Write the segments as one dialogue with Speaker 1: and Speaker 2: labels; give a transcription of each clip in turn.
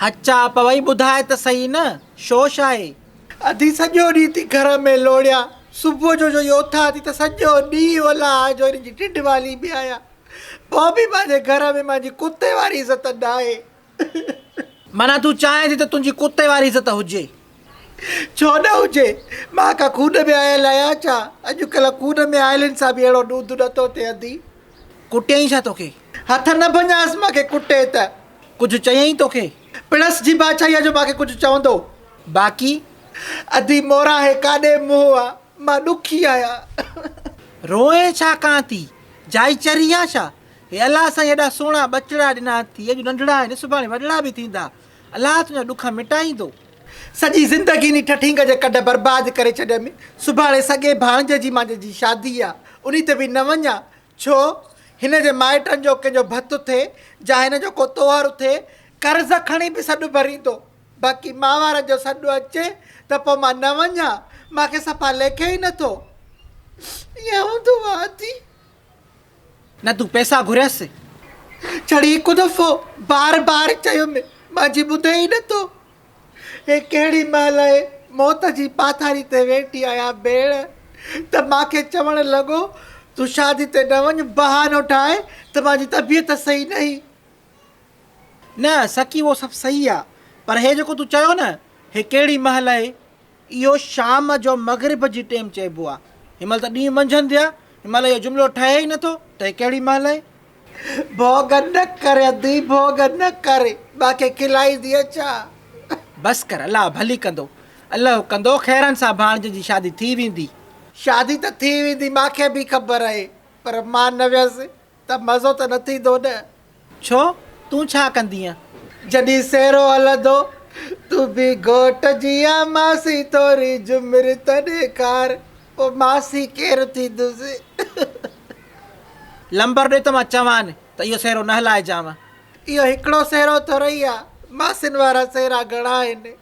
Speaker 1: هچاء پوي ٻڌاء ته سهي نه، شو شاهي؟ اڌي سڄو
Speaker 2: ڏينهن ٿي گهر ۾ لوڙيان، صبح جو جوئي اٿان ٿي ته سڄو ڏينهن الاء جو ان جي ڊڍ واليندي آهيان. بابي مانجي گهر ۾ مانجي ڪتي واري عزت ناهي.
Speaker 1: معنيٰ تون چاهين ٿي ته تنهنجي ڪتي واري عزت هجي. ڇو
Speaker 2: نه هجي؟ مان ڪا خون ۾ آيل آهيان ڇا؟ اڄڪلهه خون ۾ آيلن سان به اهڙو ڏوڌ نه ٿو ٿئي ادي. ڪٽيائين ڇا
Speaker 1: توکي؟ هٿ نه ڀڃانس
Speaker 2: مان کي ڪٽي ته. ڪجهه چيائين
Speaker 1: توکي؟ پڻس جي بادشاهيء
Speaker 2: جو مان کي ڪجهه چوندو. باقي؟
Speaker 1: ادي
Speaker 2: مورا هي ڪاڏي منهن آ؟ مان ڏکي آهيان. روئين
Speaker 1: ڇا ڪان ٿي؟ جائچري آن ڇا؟ هي الله سائين ايڏا سهڻا ٻچڙا ڏنا اٿئي اڄ ننڍڙا آهن سڀاڻي وڏڙا به ٿيندا الله تنهنجا ڏک مٽائيندو. سڄي
Speaker 2: زندگي انهي ٺٺينگ جي ڪڍ برباد ڪري ڇڏيم سڀاڻي سڳي ڀاڻجي جي مانجي جي شادي آ انهي تي به نه وڃان ڇو هن جي مائٽن جو ڪنهن جو ڀت اٿئي جا هن جو ڪو طوهر اٿئي قرض کڻي به سڏ ڀريندو باقي ماوارن جو سڏ اچي ته پو مان نه وڃان مان کي صفا ليکي ئي نٿو ائين هوندو آ اٿي.
Speaker 1: نه تون پئسا گهريس. جھڙي
Speaker 2: هڪ دفعو بار بار چيم مان جي ٻڌي ئي نه ٿو. هي ڪهڙي مهل اهي موت جي پاٿاري تي ويٺي آهيان ڀيڻ. ته مان کي چوڻ لڳو تون شادي تي نه وڃ بهانو ٺاهه ته مان جي طبيعت صحيح نهي.
Speaker 1: نه سڪي اهو سڀ صحيح آ پر هي جيڪو تون چيو نه هي ڪهڙي مهل اهي اهو شام جو مغرب جي ٽيم چئبو آ. هن مهل ته ڏينهن منجهند ٿيا. هن مهل اهو جملو ٺهي ئي نٿو ته هي ڪهڙي مهل آهي. ڀوڳ
Speaker 2: نه ڪر ادي ڀوڳ نه ڪر. مانکي کلائينديء ڇا؟ بس ڪر
Speaker 1: الله ڀلي ڪندو. الله ڪندو خيرن سان ڀاڻجي جي شادي ٿي ويندي. شادي ته
Speaker 2: ٿي ويندي مانکي به خبر آهي پر مان نه ويس. ته مزو ته نه ٿيندو نه. ڇو
Speaker 1: تون ڇا ڪندينء؟ جڏهن سيرو
Speaker 2: هلندو. تون به گهوٽ جيان ماسي ٿوري جهمر ته ڏيکار. پوء ماسي ڪير ٿيندس.
Speaker 1: لمبر ڏي ته مان چوان ته اهو سيرو نه هلائجانء. اهو هڪڙو
Speaker 2: سيرو ٿورئي آ. ماسين وارا سيرا گهڻا آهن.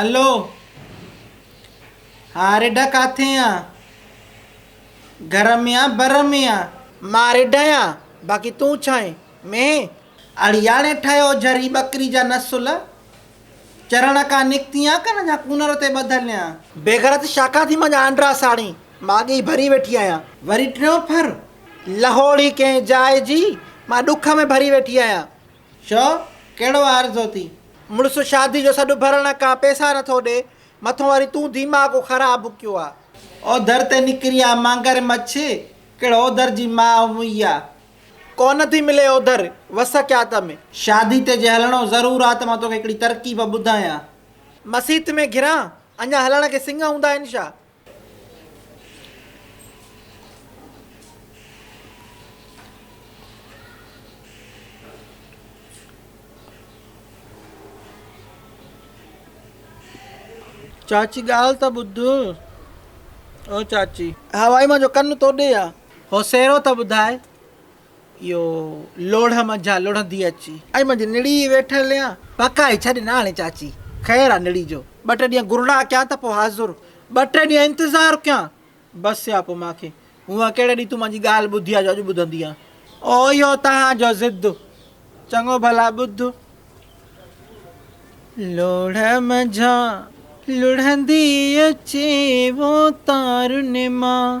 Speaker 1: الو ها رڍا ڪاٿي آن گهر ۾ آن بر ۾ آن. مان رڍ آهيان
Speaker 2: باقي تون ڇا
Speaker 1: آهين مينهن. اڙياڻي ٺهيو جھري ٻڪري جا نسل چرڻ کان نڪتي آن ڪن جا ڪونر تي ٻڌل آن. بيغرت شاخان
Speaker 2: ٿي مانجا آنڊرا ساڻي مان اڳي ئي ڀري ويٺي آهيان. وري ٽيون پھر
Speaker 1: لهوڙي
Speaker 2: ڪنهن جاء جي مان ڏک ۾ ڀري ويٺي آهيان. چؤ،
Speaker 1: ڪهڙو آرزو ٿي؟ مڙس شادي جو
Speaker 2: سڏ ڀرڻ ڪا پئسا نه ٿو ڏي. مٿو وري تون ديماغ خراب ڪيو آ. او در تي
Speaker 1: نڪري آ مگر مڇ، ڪهڙ او در جي ماء موئي آ. ڪونه ٿي
Speaker 2: ملي او در، وس ڪيا ته م. شادي تي جي هلڻو
Speaker 1: ضرور آ ته مان توکي هڪڙي ترڪيب ٻڌايان. مسيت
Speaker 2: ۾ گهران، اڃا هلڻ کي سڱ هوندا آهن ڇا؟
Speaker 1: چاچي ڳالهه ته ٻڌ او چاچي. هوائي مان جو ڪن
Speaker 2: تو ڏي آ. هو سيرو ته
Speaker 1: ٻڌاء اهو لوڙهه منجهان لڙهندي اچي. اي منهنجي نڙي
Speaker 2: ويٺل يا. پڪائي ڇڏ ناڻي
Speaker 1: چاچي. خير آ نڙي جو. ٻه ٽي ڏينهن گرڙا ڪيا
Speaker 2: ته پوء حاضر. ٻه ٽي ڏينهن
Speaker 1: انتظار ڪيان. بس يا پوء مان کي. هونء ڪهڙي ڏينهن تون مانجي ڳالهه ٻڌي آ جو اڄ ٻڌندي آ. او اهو توهان
Speaker 2: جو ضد. چڱو ڀلا
Speaker 1: ٻڌ. لوڙهه منجهان لڙهندي اچي وو تارن مان.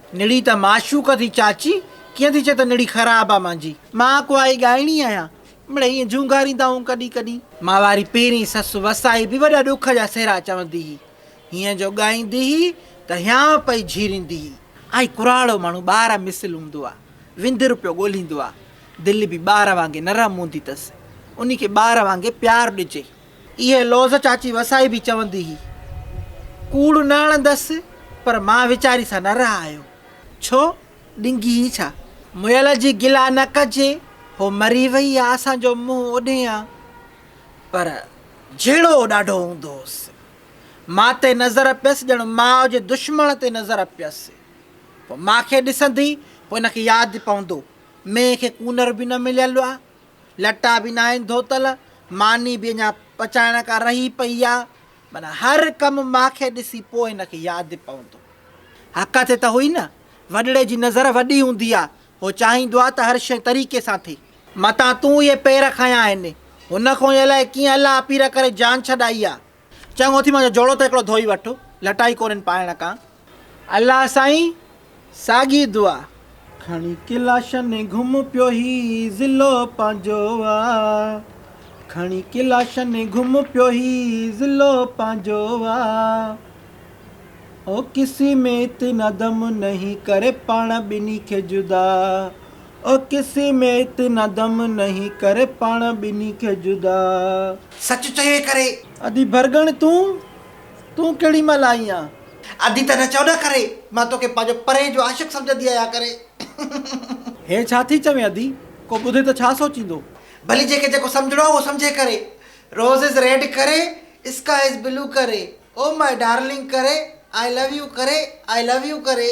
Speaker 1: نڙي ته معشوق ٿي چاچي، ڪيئن ٿي چئين ته نڙي خراب آ مانجي. مان ڪوائي ڳائڻي آهيان، مڙئي ائين جهونگاريندائون ڪڏهن ڪڏهن. مان واري پهرين سس وسائي به وڏا ڏک جا سهرا چوندي هئي. هيئن جو ڳائيندي هئي ته هيانء پئي جهيريندي هئي. آئي ڪراڙو ماڻهو ٻار مثل هوندو آ، وندر پيو ڳوليندو آ، دل به ٻار وانگي نرم هوندي تس، انهي کي ٻار وانگي پيار ڏجي. اهي لوظ چاچي وسائي به چوندي هئي. ڪوڙ نه اڻندس پر مان ويچاري سان نه رهايو. ڇو؟ ڏنگي هي ڇا؟ مئل جي گلا نه ڪجي، هو مري وئي آ، اسان جو منهن اوڏهين آ. پر جهيڙو ڏاڍو هوندو هوس. مان تي نظر پيس ڄڻ ماء جي دشمڻ تي نظر پيس. پوء مان کي ڏسندي، پوء ان کي ياد پوندو، مئي کي ڪونر به نه مليل آ. لٽا به ناهن ڌوتل، ماني به اڃا پچائڻ ڪا رهي پئي آ، معنيٰ هر ڪم مان کي ڏسي پوء هن کي ياد پوندو. حق تي ته هئي نه، وڏڙي جي نظر وڏي هوندي آ، هو چاهيندو آ ته هر شيء طريقي سان ٿئي. متان تون اهي پير کنيا آهن، هن کان ئي الائي ڪيئن الله اپير ڪري جان ڇڏائي آ. چڱو اٿي منهنجو جوڙو ته هڪڙو ڌوئي وٺ، لٽائي ڪونهين پائڻ ڪان. الله سائين ساڳي دعا. کڻي ڪلاشن گهم پيو هي ضلعو پنهنجو آ کڻي ڪلاشن گهم پيو هي ضلعو پنهنجو آ او ڪسي ميت ندم نهين ڪري پاڻ ٻنهي کي جدا. او ڪسي مين اتنا دم نهين ڪري پاڻ ٻنهي کي جدا. سچ
Speaker 2: چوي ڪري. ادي ڀرڳڻ
Speaker 1: تون، تون ڪهڙي مهل آئين آ. ادي ته نه چئو
Speaker 2: نه ڪري. مان توکي پنهنجو پرين جو عاشق سمجهندي آهيان ڪري.
Speaker 1: هي ڇا ٿي چوين ادي، ڪو ٻڌي ته ڇا سوچيندو. ڀلي جنهن کي جيڪو
Speaker 2: سمجهڻو آ اهو سمجهي ڪري. روز از ريڊ ڪري، اسڪاء از بلو ڪري. او ماء ڊارلنگ ڪري آء لو يو ڪري آء لو يو ڪري.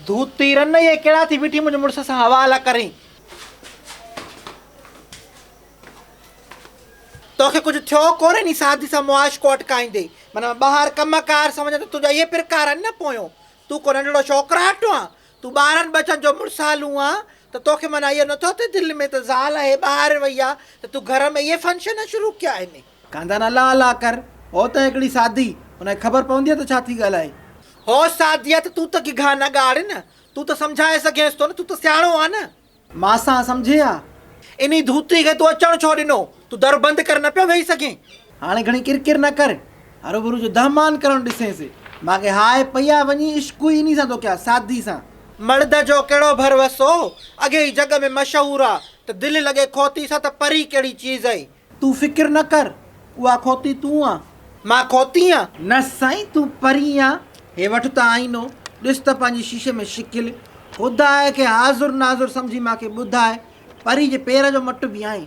Speaker 1: ڌوتي رن اهي ڪهڙا ٿي بيٺي منهنجي مڙس سان حوالا ڪرين. توکي ڪجهه ٿيو ڪونهي ني سادي سان معاش ڪو اٽڪائيندي. معنيٰ ٻاهر ڪم ڪار سمجهه ته تنهنجا اهي پرڪار آهن نه پويون. تون ڪو ننڍڙو ڇوڪراٽ آن. تون ٻارن ٻچن جو مڙسالون آن ته توکي معنيٰ اهو نٿو اٿئي دل ۾ ته زال اهي ٻاهر وئي آ ته تون گهر ۾ اهي فنڪشن شروع ڪيا آهن. ڪانڌان الله الله ڪر. هو ته هڪڙي ساڌي. ان کي خبر پونديء ته ڇا ٿي ڳالهائي. هو ساڌيء ته تون ته گگها نه ڳاڙ نه. تون ته سمجهائي سگهينس ٿو نه. تون ته سياڻو آن. مان سان سمجهي ها. انهي ڌوتي کي تون اچڻ ڇو ڏنو. تون در بند ڪري نه پيو ويهي سگهين. هاڻي گهڻي ڪر ڪر نه ڪر. هروڀرو جو دهه مان ڪرڻ ڏسينس. مان کي هاء پئي آ. وڃي عشق ئي انهي سان ٿو ڪيان. ساڌي سان. مرد جو ڪهڙو ڀروسو. اڳي ئي جڳ ۾ مشهور آ ته دل لڳي کوتي سان ته پري ڪهڙي چيز اي. تون فڪر نه ڪر، اها کوتي تون آن، مان کوتي آن. نه سائين تون پرين آن، هي وٺ ته آئينو، ڏس ته پنهنجي شيشي ۾ شڪل، خدا کي حاضر ناظر سمجهي مان کي ٻڌاء، پري جي پير جو مٽ به آئين.